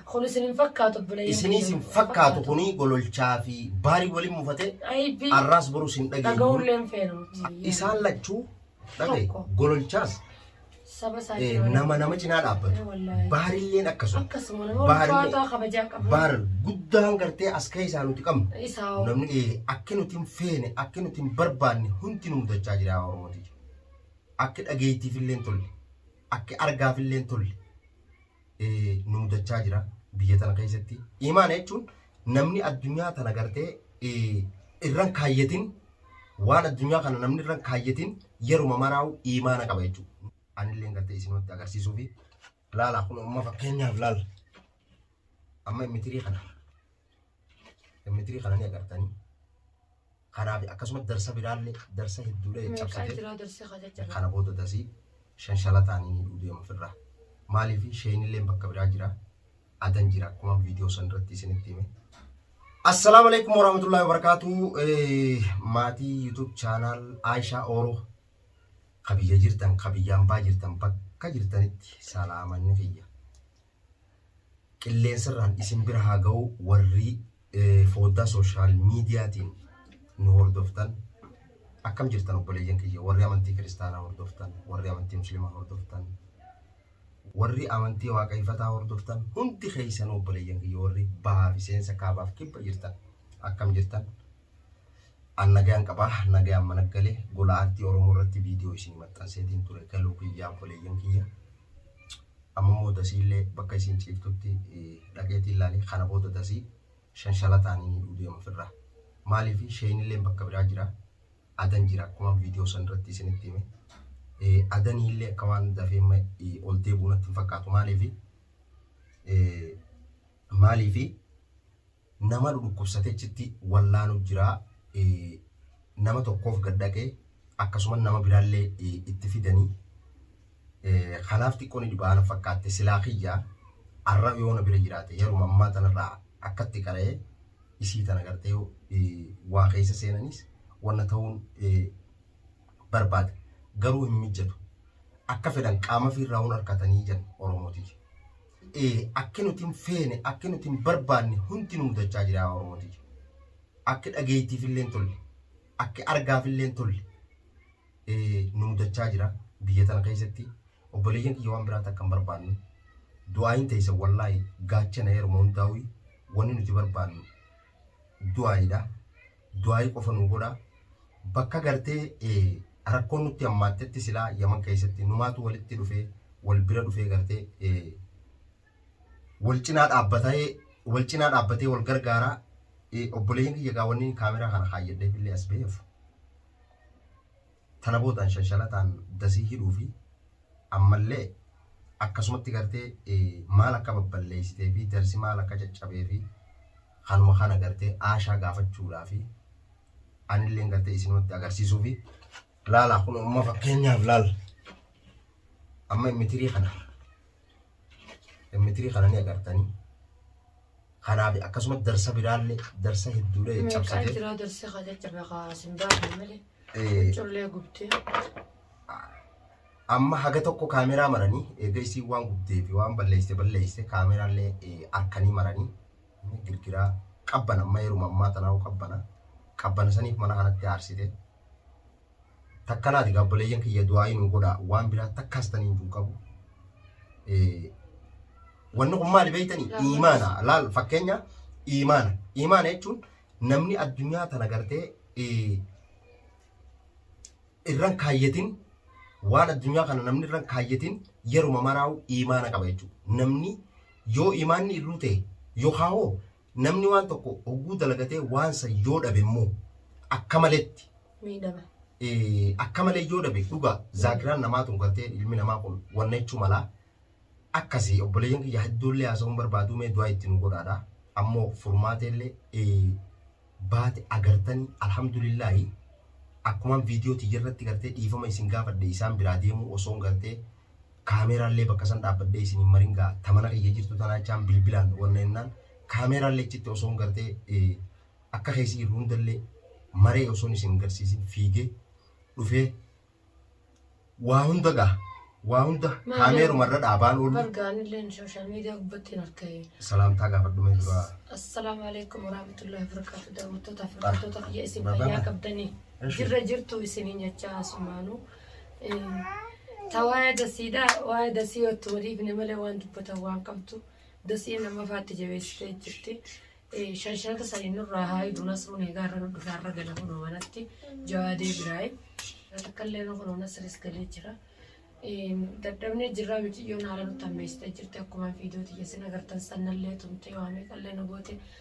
Kun isin hin fakkaatu obboleeyyan. Isiniis hin fakkaatu kuni gololchaa fi baarii waliin mufate Aybii. arraas boruu sin dhageenyu. Dhaga'ullee hin feenu. Isaan lachuu dhagaye Tokko. gololchaas Saba isaa eh, jira. nama nama cinaa dhaabbatu. Eh, wallaahi. Baarilleen akkasuma. Akkasuma nama Baarillee- ulfaataa kabajaa qabu. Baar guddaan gartee as ka'e isaa nuti qabnu. Isaa hoo. Namni eh, akka nuti hin feene, akka nuti hin barbaanne hundi nu mudachaa jira yaa Oromooti. Akka dhageettiif illee hin tolle. Akka argaaf illee hin tolle. nu mudachaa jira biyya tana keessatti. Imaana jechuun namni addunyaa tana gartee irran kaayyatin waan addunyaa kana namni irran kaayyatin yeruma maraa'u imaana qaba jechuudha. Anillee gartee isinumatti agarsiisuu fi laala kun amma fakkeenyaaf laala. Amma immitirii kana immitirii kana ni agartanii. kanaa fi akkasuma darsa biraallee darsa hedduudhaa Meeqaa caccabsatee jiraa darsii haa caccabaa. kana booda dasii shanshalataan hin hidhuu deema ofirraa. Maaliif sheenilleen bakka biraa jira. Adan jira akkuma viidiyoo san irratti isinitti hime. Assalaamu alaikum warahmatullahi wabarakatuh. Eh, Maatii YouTube channel Aisha Oro ka biyya jirtan ka biyyaan baa jirtan bakka jirtanitti salaamanni kiyya. qilleensarraan isin bira haa ga'u warrii fooddaa social mediatiin nu hordoftan akkam jirtan obboleeyyan kiyya warri amantii kiristaanaa hordoftan warri amantii muslimaa hordoftan warri amantii waaqayfataa hordoftan hundi keessanuu obboleeyyan kiyya warri bahaa fi seensa kaabaaf kibba jirtan akkam jirtan An nagaan qaba, nagaan mana gale, gola aartii Oromoo irratti viidiyoo isinii maxxanseetiin ture galuu kiyya obboleeyyan kiyya. Amma immoo dasii illee bakka isin ciiftutti dhaqeetiin laalee kana booda dasii shanshalataan inni hidhuu deema ofirraa. Maaliif sheen illee bakka biraa jira, adan jira akkuma viidiyoo san irratti isinitti hime. Adanii illee akka waan dafee amma ol deebi'uu natti hin fakkaatu maaliif maaliif nama nu dhukkubsate achitti wallaanu jira nama tokkoof gad dhaqe akkasuma nama biraallee itti fidanii kanaaf xiqqoo ni dhibaa na fakkaatte silaa kiyya arra yoo na bira jiraate yeruma ammaa tanarraa akkatti qara'ee isii tana gartee waa keessa seenanis wanna ta'uun barbaade garuu hin mijjatu akka fedhan qaama fiirraa hun harkatanii jedhan oromootii Akki nuti hin feene, akki nuti hin barbaanne hundi nu mudachaa jira yaa Oromoo tiyya. Akki dhageettiif illee hin tolle, akki argaaf illee hin tolle nu mudachaa jira biyya tana keessatti. Obboleeyyan kiyya waan biraa takka hin barbaannu. Du'aayin teessan wallaahi gaachana yeruma hundaa'u wanni nuti barbaannu du'aayiidha. Du'aayii qofa nuu godha. Bakka gartee rakkoon nutti hammaattetti silaa yaman keessatti numaatu walitti dhufee wal bira dhufee gartee wal cinaa dhaabbatee wal cinaa dhaabbatee wal gargaaraa obboleeyyan kiyya gaawwanniin kaameraa kana kaayyadheef illee as ba'eef tana boodaan shanshalataan dasii hidhuu fi ammallee akkasumatti gartee maal akka babballeessitee fi darsi maal akka caccabee fi kanuma kana gartee aashaa gaafachuudhaa fi anilleen gartee isinumatti agarsiisuu fi laalaa kun amma fakkeenyaaf laal amma mitirii kana M3 kana ni agartanii kanaaf akkasuma darsa biraallee darsa hedduulee Meeqaa cabsatee jira darsi haa caccabe haa sin baafne malee. eh, Collee gubtee. amma haga tokko kaameraa maranii eega isiin waan gubdee fi waan balleessite balleessite kaameraallee eh, harkanii maranii eh, girgiraa qabbana amma yeruma ammaa tanaa qabbana qabbana saniif mana kanatti aarsite takkanaati gaabboleeyyan kiyya du'aa'ii nuu godha waan biraa takkaas taniin juu qabu wanni kun maali beeytanii iimaana laal fakkeenya iimaana iimaana jechuun namni addunyaa tana gartee irran kaayyatin waan addunyaa kana namni irran kaayyatin yeruma maraa'u iimaana qaba jechuudha namni yoo iimaanni irruu ta'e yookaan hoo Namni waan tokko hogguu dalagatee waan san yoo dhabe immoo akka maletti miidhama. eh, akka malee yoo dhabe dhugaa zaakiraan namaa tun galtee ilmi namaa kun wanna jechuu malaa akkasii obboleeyyan kiyya hedduullee haasa'uun barbaaduu mee du'aa itti nu godhaadha ammoo furmaateellee eh, baate agartanii alhamdulillaahi akkumaan viidiyoo tiyya irratti gartee dhiifama isin gaafadhe isaan biraa deemuu osoon gartee kaameeraallee bakka san dhaabbadhee isin hin marin gaa ta mana kiyya jirtu tanaa jechaan bilbilaan wanna jennaan kaameeraallee achitti osoon gartee akka keessi jiru hundallee maree osoon isin garsiisin fiigee dhufee waa hunda gaa waa hunda kaameeruma irra dhaabaan oolu. Bargaanillee sooshaal miidiyaa gubbatti hin argee. Salaamtaa gaafadhumee dura. Assalaamu alaikum warahmatullahi wabarakatuh. Daawwattoota fi hordoftoota kiyya isin fayyaa qabdanii. Jirra jirtu isiniin jechaa asumaanuu. Ta waa'ee dasiidha waa'ee dasii ottu waliifne malee waan dubbatan waan qabdu dasii nama faatti jabeessitee jirti. Shanshanata sanii nurraa haa hidhu nasruun egaa irra nu dhufe har'a gala kunoo manatti jawaadee biraayi. Takka illee nu kunoo nasris galee jira. Dadhabnee jirraa miciyyoon haala nutti hammeessitee jirti akkuma fiidoo tiyya sin agartan sannallee tumtee waamee qallee nu goote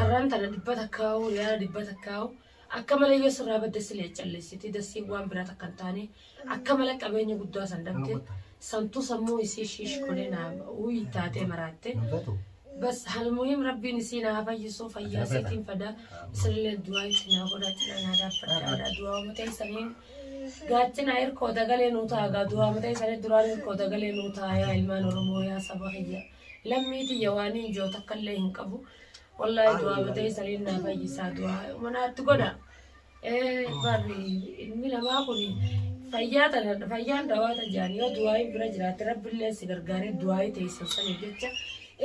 Arraan tana dhibba takkaa'u riyaala dhibba takkaa'u akka malee yoo sirraa badde silee calleessiti dassiin waan biraa takka hin taane akka malee qabeenya guddaa san dhabde santuu sammuu isii shiish godhee naa uyi taatee maraatte bas halmuhim rabbiin isii naa fayyisuu fayyaa isiitiin fada isinillee du'aa itti naa godhaa cinaa naa dhaabbadhaa du'aa uummatee isaniin gaachina hirkoo dagalee nuu taagaa du'aa uummatee isanii duraan hirkoo dagalee nuu taayaa ilmaan oromoo yaa saba kiyya. Lammii tiyya waanii ijoo takkallee hin qabu. Wallaahi du'aa batee sariin naa fayyisaa du'aa manaatti godha. Barri ilmi namaa kun fayyaa tana fayyaan dawaa tajaan yoo du'aa bira jiraatte rabbillee si gargaaree du'aa teessan sanii jecha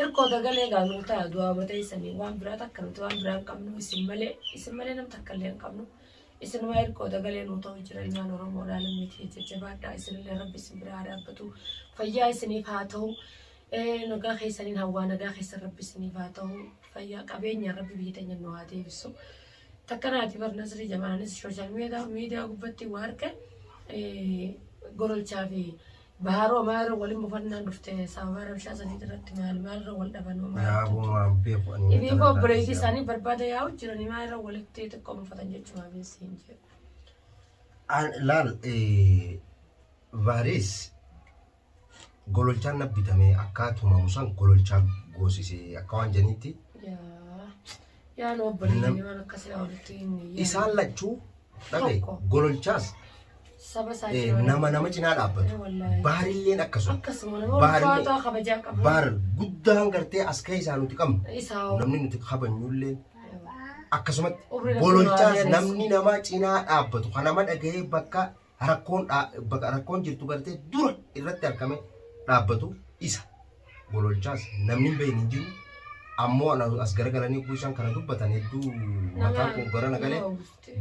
irkoo dagalee gaanuu ta'a du'aa batee sanii waan biraa takka nuti waan biraa hin qabnu isin malee isin malee nam takkallee hin qabnu. Isinuma irkoo dagalee nuu ta'u jira ilmaan Oromoo dhaa lammii ta'e jajjabaadhaa isinillee rabbi isin biraa dhaabbatu fayyaa isiniif haa ta'u nagaa keessaniin hawwaa nagaa keessan rabbi isiniif haa ta'u fayyaa qabeenya rabbi biyya teenya nu haa deebisu takka naati bar nasrii jamaanis sooshaal miidiyaa gubbatti waa harka gorolchaa fi Baharoo maa irra walin bufannaan dhufte sababaa rabshaa saniit irratti maal maal irra wal dhaban homaa Yaa jettu. boo waan beeku ani. Ibii koo obboleetii isaanii barbaada yaa'u jiranii maa irra walitti xiqqoo mufatan jechumaa beessi hin jedhu. An laal eh, vaaris gololchaan na bitamee akkaatuma musan gololchaa goosisee akka waan janiitti Yaa. Yaa nu obboleeyyanii waan akkasii haa walitti hin yaadne. Isaan lachuu dhabe Tokko. gololchaas Saba isaa eh, jira. nama nama cinaa Eh, dhaabbatu. wallaahi. Baarilleen akkasuma. Akkasuma nama Baarri- ulfaataa kabajaa qabu. Baar guddaan gartee as keessaa nuti qabnu. Isaa hoo. Namni nuti kabanyullee akkasumatti Umrii rabbi gololchaas nurraa namni nama cinaa dhaabbatu kan nama dhagahee bakka rakkoon bakka rakkoon jirtu gartee dura irratti argame dhaabbatu isa gololchaas namni hin beekne hin jiru ammoo ana as garagalanii utuu isaan kana dubbatan hedduu mataan koo gara na galee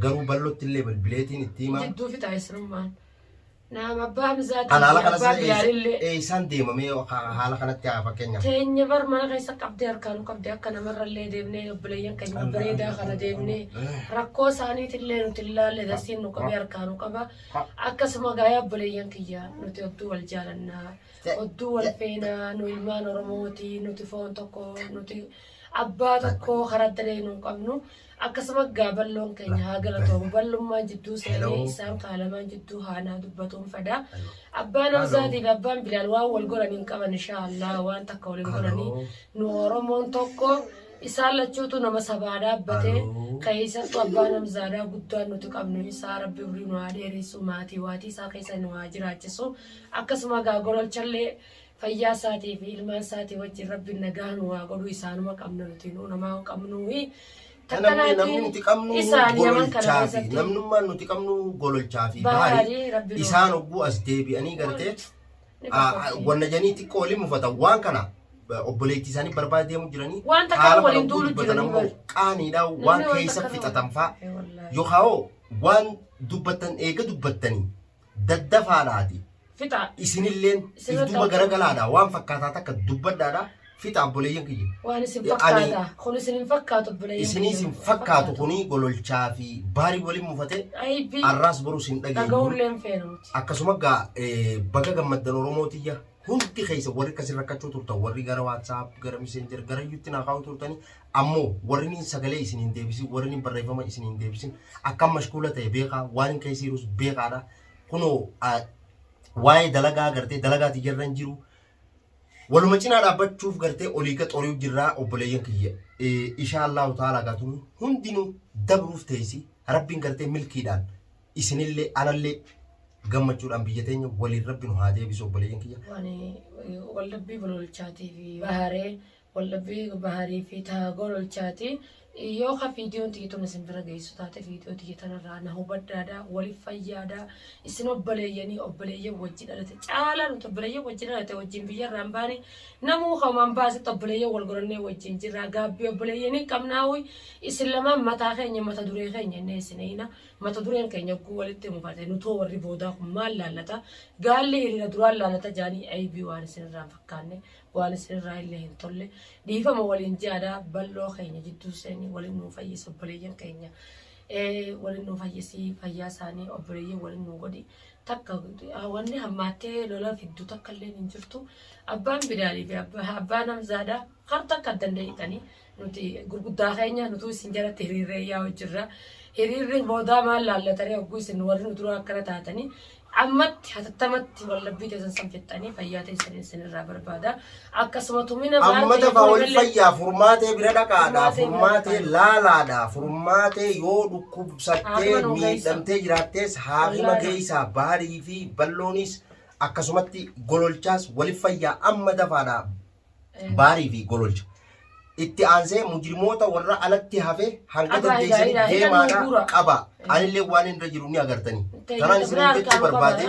garuu ballotti illee bilbileetiin itti himaa Jidduu fixaa isinummaan. Naam abbaa Hamzaatii Kan haala fi kanas abbaa illee Bilaalillee. eessaan deemamee haala kanatti haa fakkeenyaaf. Teenya bar mana keessa qabdee harkaanuu qabdee akka namarrallee deemnee Obboleeyyan keenya Alhamdulillah, bareedaa kana alhamdulillah, deebinee alhamdulillah. rakkoo isaaniitillee nuti hin laalle darsiin nu qabee harkaa nu qaba. Akkasuma gaayaa obboleeyyan kiyya nuti odduu wal jaalannaa, odduu wal feenaa, nu ilmaan Oromooti, nuti foon tokko, nuti abbaa tokko karaa adda ta'e nu hin qabnu. Akkasuma gaa balloon keenya haa galatoomu. Ballummaan jidduu seenee Hello. isaan kaalamaan jidduu haanaa dubbatuun fadaa. Abbaan Hello. Hamzaatii fi abbaan Bilaal waan wal godhan hin qaban inshaallah waan takka wal hin godhanii. Hello. Nu Oromoon tokko Isaan lachuutu nama sabaadhaa abbatee Aloo. keessattu abbaa namzaadaa guddaan nuti qabnu isaa rabbi umrii nu haa dheeressu maatii waatii isaa keessa nu haa jiraachisu akkasuma gaa gololchallee fayyaa isaatii fi ilmaan isaatii wajjin rabbi nagaa nu haa godhu isaanuma qabna nuti nu namaa hin qabnu fi Namni namni nuti qabnu isaan yaman kana gololchaa fi keessatti namnummaan nuti qabnu gololchaa fi Bahaari, Rabbi bahaari nu- isaan ogguu as deebi'anii gartee wanna janii xiqqoo waliin mufatan waan kana obboleettii isaanii barbaada deemu jiranii Waan takka haala waliin kana duulu dubbatan jiranii ammoo bari. qaaniidha Namni waan waan keessa takka nama- fixatan fa'a Eh, wallaahi. yookaan hoo waan dubbattan eega dubbattanii daddafaadhaati Fixaa. isinilleen Isinirratti duuba argamu. garagalaadha waan fakkaataa takka dubbadhaadha fixa abboleeyyan kiyya. Waan isin Ani- fakkaata. Kun isin hin fakkaatu obboleeyyan Isinii kiyya. sin fakkaatu kuni gololchaa fi baarii waliin mufatee Aybii arraas boruu sin dhageenyu. dhaga'uullee hin feena nuti. Akkasuma gaa eh, baga gammaddan Oromoo tiyya hundi keessa warri akkasii rakkachuu turtan warri gara WhatsApp gara Messenger gara YouTube naa kaa'uu turtanii ammoo warri niin sagalee isin hin deebisin warri niin barreeffama isin hin deebisin akkam mashkuula ta'e beekaa waan hin keessa jirus beekaadha kunoo ah, waa'ee dalagaa agartee dalagaa tiyyarra hin jiru Waluma cinaa dhaabbachuuf gartee olii ka xori'u jirraa obboleeyyan kiyya. Ishaa Allaahu ta'aalaa gaa tun hundinuu dabruuf teessi rabbiin gartee milkiidhaan isinillee anallee gammachuudhaan biyya teenya waliin rabbi nu haa deebisu obboleeyyan kiyya. Wani waldhabbii gololchaatii fi baharee Waldhabbii Baharii fi Taagor Olchaati. Yoo ka viidiyoon tiyya tun isin bira geessu taate viidiyoo tiyya tanarraa na hubadhaadha, waliif fayyaada. Isin obboleeyyanii obboleeyyan wajji dhalate caalaa nuti obboleeyyan wajji dhalate wajjin biyyarraa hin baane namuu kaumaan baasetti obboleeyyan wal godhannee wajjin jirra. Gaabbii obboleeyyanii qabnaa uyi isin lamaan mataa keenya mata duree keenya innee isin eeyna mata dureen keenya ogguu walitti mukate nutoo warri boodaa kun maal laallata gaalli hiriira duraan laallata jaanii aybii waan isinirraa hin fakkaanne waan isin irraa illee hin tolle dhiifama waliin ji'aadaa bal'oo keenya jidduu seeni waliin nuu fayyisa obboleeyyan keenya waliin nuu fayyisii fayyaa isaanii obboleeyyan waliin nuu godhi takka wanni hammaattee lola fiddu takka illee hin jirtu abbaan bidaalii fi abbaan hamzaadaa kar takka addan dee'itanii Nuti gurguddaa keenya nutuu isin jalatti hiriirree yaa'u jirra. Hiriirri boodaa maal laallatanii hogguu isin warri nu duraa akkana taatanii ammatti hatattamatti wallabbii teessan san fixxanii fayyaa teessan isin irraa barbaada. Akkasuma tumina maal Amma ta'e dafaa wal ijoollee- fayyaa furmaatee bira dhaqaadhaa Furmaatee bira furmaatee dhaqaa. laalaadhaa furmaatee yoo dhukkubsattee Haakima nu geessaa. miidhamtee jiraattees haakima Wallaala. geessaa baarii fi balloonis akkasumatti gololchaas wal fayyaa amma dafaadhaa Baarii fi Gololcha. Itti aansee mujrimoota warra alatti hafe hanga Abaa, dandeessanii ilaa, ilaa, ilaa, deemaadha nuguura. qabaa. Anillee waan irra jiru ni agartanii. Tanaan isin jechuu barbaade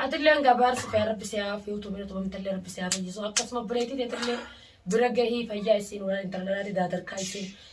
Atillee hanga abaarsi fayyaa rabbi si haa fiutu bira tumamtallee rabbi si haa fayyisu akkasuma obboleettii teetillee bira gahii fayyaa isiin waraan intalalaati daadarkaa isiin